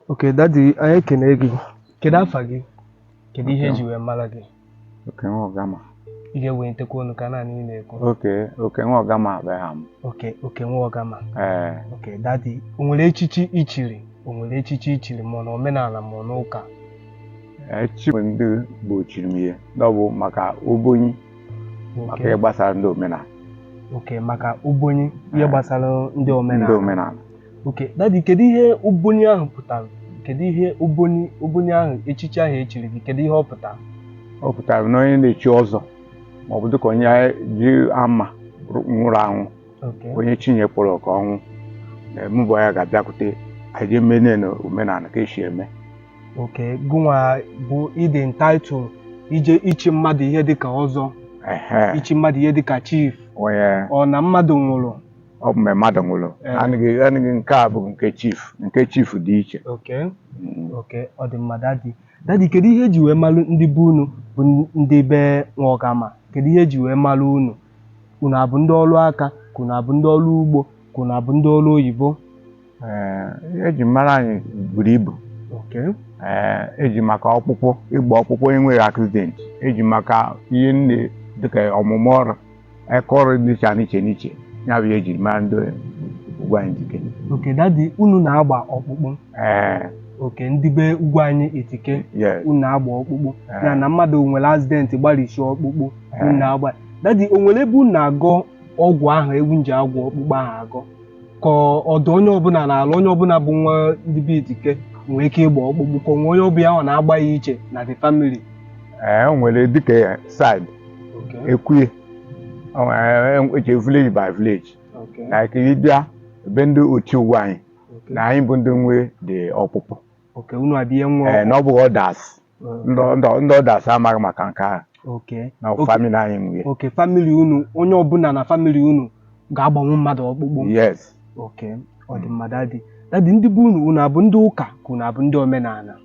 Okay, dadi anyị ekene gị kedu afa gị kedu ihe eji wee mara gị oke nwa ọgama ị ga-ewelitekwa ọnụ ka a nụ ihe ị na-ekwu oke oke nwa ọgama bụ aha m oke oke nwa ọgama ee oke dadi o nwere echichi i chiri o nwere echichi i chiri ma ọ na omenala ma ọ n'ụka echichi ndị gboo chiri m ihe na ọ bụ maka obonyi maka oke ihe gbasara ndị omenala oke maka ubonyi ihe Eh. gbasara ndị ndị omenala omenala oke dadi kedu ihe ubonyi ahụ pụtara kedu ihe ubonyi ubonyi ahụ echichi ahụ echiri gị kedu ihe ọ pụtara ọ pụtara na onye na-echi ọzọ ma ọ bụ dịka onye ji ama nwụrụ anwụ oke onye Chineke kpọrọ oku ọnwụ mụbụ ya ga-abịakwute anyị jee mene na omenala ka esi eme oke gụnwa bụ ị dị entitled ije ichi mmadụ ihe dịka ọzọ Ehe, ichi mmadụ ihe dịka chief onye ọ na mmadụ nwụrụ ọ bụ mgbe mmadụ nwụrụ Ee. anaghị anaghị nke a bụ nke chief nke chief dị iche oke Mm. oke ọ dị mma dadi dadi kedu ihe eji wee malụ ndị be unu bụ ndị be nwa ọgama kedu ihe eji wee malụ unu unu abụ ndị ọrụ aka ka unu abụ ndị ọrụ ugbo ka unu abụ ndị ọrụ oyibo eji mara anyị buru ibu eji maka ọkpụkpụ ịgba ọkpụkpụ e nwere accident eji maka ihe nne dịka ọmụmụ ọrụ aka ọrụ dịcha n'iche n'iche ya bụ eji mara ndị Ugwuanyị Itike oke dadi unu na-agba ọkpụkpụ ee oke ndị be Ugwuanyị Itike unu na-agba ọkpụkpụ ya na mmadụ nwere accident gbarisi ọkpụkpụ unu na-agba dadi o nwere ebe unu na-agọ ọgwụ ahụ unu ji agwọ ọkpụkpụ ahụ agọ ka ọ dụ onye ọbụla n'ala onye ọbụla bụ nwa ndị be itike nwee ike ịgba ọkpụkpụ ka o nwe onye ọ bụ ya na-agba ya iche na the family ee o nwere dịka side okay ekwuye O nwere- e- eche village by village okay like ị bịa ebe ndị otu Ugwuanyị okay na anyị bụ ndị nwe dị ọkpụkpụ okay unu abịa nwa ee na ọ bụghị others ndị ndị ndị others amaghị maka nke ahụ Okay. na Okay. famili anyị nwere oke famili unu onye ọbụla na famili unu ga-agbanwu mmadụ ọkpụkpụ yes oke ọ dị mma dadi dadi ndị be unu unu abụ ndị ụka ka unu abụ ndị omenala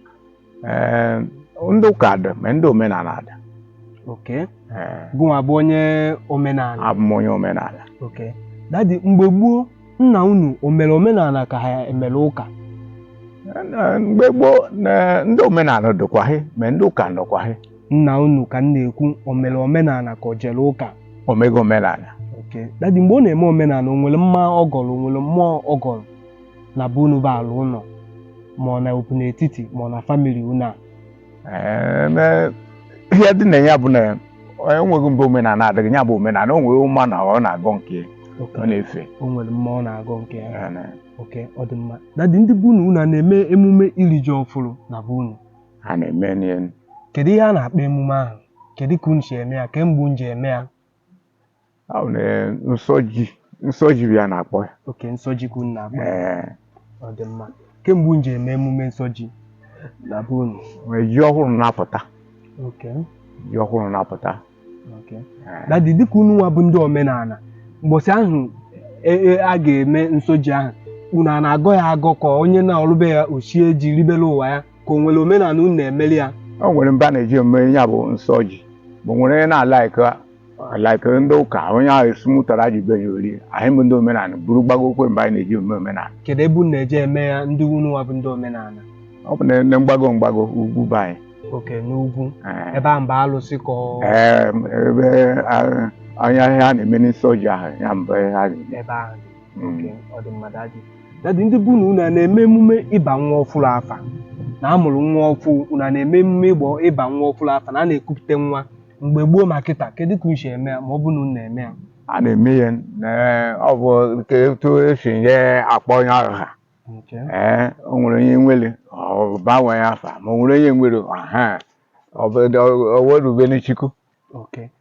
Ee, ndị ụka dị ma ndị omenala dị oke Ee, gụnwa bụ onye omenala abụ m onye omenala oke dadi mgbe gboo nna unu o mere omenala ka ha emere ụka Na- mgbe gboo na- ndị omenala dịkwaghị ma ndị ụka nọkwaghị nna unu ka m na-ekwu o mere omenala ka o jere ụka o mega omenala oke dadi mgbe ọ na-eme omenala o nwere mma ọ gọrọ o nwere mmụọ ọ gọrọ na be unu bụ ala ụlọ ma ọ na okwu n'etiti ma ọ na famili unu a Ee, na- ihe dị na ya bụ na enweghị mgbe omenala adịghị ya bụ omenala o nwere ụma na ọ na-agọ nke okay ọ na-efe o nwere mmụọ na-agọ nke ya Ya na- okay ọ dị mma daddy ndị be unu unu a na-eme emume iri ji ọfụrụ na be unu a na-emenụ ya kedu ihe a na-akpọ emume ahụ kedu ka unu si eme ya kee mgbe unu ji eme ya Ahụ na nsọ ji nsọ ji bụ ihe a na-akpọ ya okay nsọ ji ka unu na-akpọ ya ee ọ dị mma kee mgbe unu ji eme emume nsọ ji na be unu mgbe ji ọhụrụ na-apụta okay ji ọhụrụ na-apụta okay ee. daddy dịka unu nwa bụ ndị omenala mbọsị ahụ e- e- a ga-eme nsọ ji ahụ unu a na-agọ ya agọ ka onye nọlụ be ya o shie ji ribere onwe ya ka o nwere omenala unu na-emeli ya o nwere ebe a na-eje eme ya bụ nsọ ji o nwere onye na- like like ndị ụka onye ahụ esimụtara ji be ya o rie anyị bụ ndị omenala buru gbagokwa ebe anyị na-eje eme omenala kedu ebe unu na-eje eme ya ndị unu nwa bụ ndị omenala ọ bụ na ndị mgbago mgbago ugwu be anyị okay n'ugwu Ee. ebe a mba alụsị ka ọ- Ee, ebe a- anya ihe a na-eme nsọ ji ahụ ya bụ ebe a na-eme ebe ahụ dị Mm. okay ọ dị mma daddy daddy ndị be unu a na-eme emume ịba nwa ọfụrụ afa na a mụrụ nwa ọfụ unu a na-eme emume ịgbọ ịba nwa ọfụrụ afa na a na-ekupụta nwa mgbe gboo ma kịta kedu ka unu si eme ya ma ọ bụ na unu na-eme ya a na-eme ya na ọ bụ nke etu e si eje akpọ onye ahụ aha Okay. ee o nwere onye nwere ọ baa nwa ya afa ma o nwere onye nwere ha ọ bụ ọ werubere chukwu Okay.